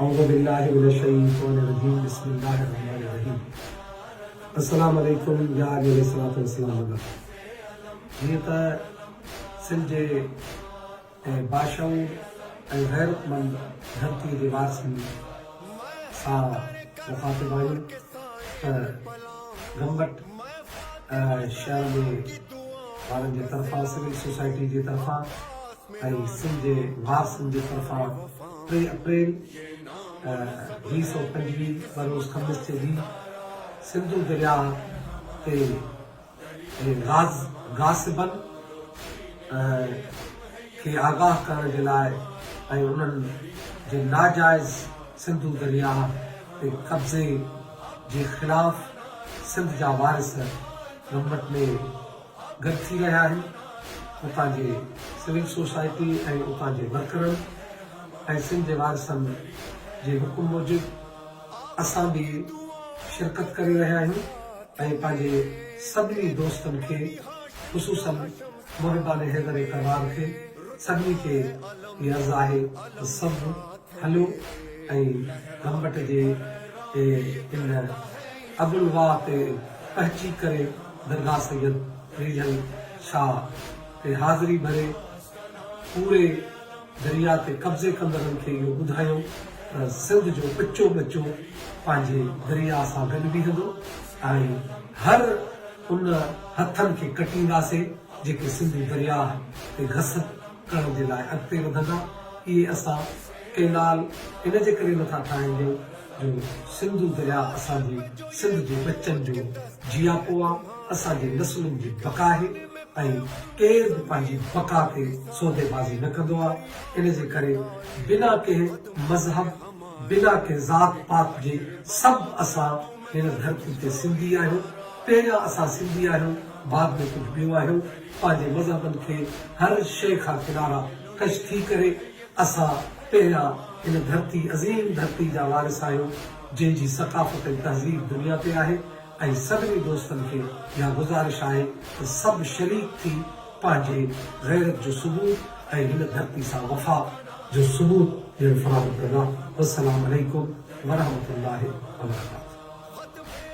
اعوذ بالله من الشيطان الرجيم بسم الله الرحمن الرحيم السلام عليكم يا علي عليه الصلاه والسلام وغيره جيئن ته سنڌ جي باشعور ۽ غيرتمند ڌرتي جي وارثن سان مخاطب آهيون ته گمبٽ شهر جي وارن جي طرفان سول سوسائٽي جي طرفان ۽ سنڌ جي وارثن جي طرفان ٽي اپريل ويهه سؤ پنجويهه بروز خميس تي به سنڌو درياهه تي غاز غاصبن کي آگاهه ڪرڻ جي لاء ۽ انهن جي ناجائز سنڌو درياهه تي قبضي جي خلاف سنڌ جا وارث گمبٽ ۾ گڏ ٿي رهيا آهن اتان جي سول سوسائٽي ۽ اتان جي ورڪرن ۽ سنڌ جي وارثن جي حڪم موجب اسان به شرڪت ڪري رهيا آهيون ۽ پنهنجي سڀني دوستن کي خصوصا محبان حيدر ڪرار کي سڀني کي هي عرض آهي ته سڀ هليو ۽ گمبٽ جي ان ابلواء تي پهچي ڪري درگاهه سيد فريجل شاهه تي حاضري ڀري پوري درياء تي قبضي ڪندڙن کي اهو ٻڌايو ته سنڌ جو ٻچو ٻچو پنهنجي درياء سان گڏ بيهندو ۽ هر ان هٿن کي ڪٽينداسين جيڪي سنڌو درياهه تي گس ڪرڻ جي لاء اڳتي وڌندا. اهي اسان ڪئنال ان جي ڪري نٿا ٺاهيون جو سنڌو درياء اسان جي سنڌ جي ٻچن جو جياپو آ، اسان جي نسلن جي بقا آهي ۽ ڪير به پنهنجي بقا تي سوديبازي نه ڪندو آ، ان جي ڪري بنا ڪنهن مذهب، بنا ڪنهن ذات پات جي سڀ اسان هن ڌرتي تي سنڌي آهيون، پهريان اسان سنڌي آهيون بعد ۾ ڪجهه ٻيو آهيون. پنهنجي مذهبن کي هر شيء کان ڪنارا ڪش ٿي ڪري اسان پهريان هن ڌرتي عظيم ڌرتي جا وارث آهيون جنهن جي ثقافت ۽ تهذيب دنيا تي آهي ۽ سڀني دوستن کي اها گذارش آهي ته سڀ شريڪ ٿي پنهنجي غيرت جو ثبوت ۽ هن ڌرتي سان وفا جو ثبوت ڏيڻ فراهم ڪندا والسلام عليڪم ورحمة الله وبرڪاته.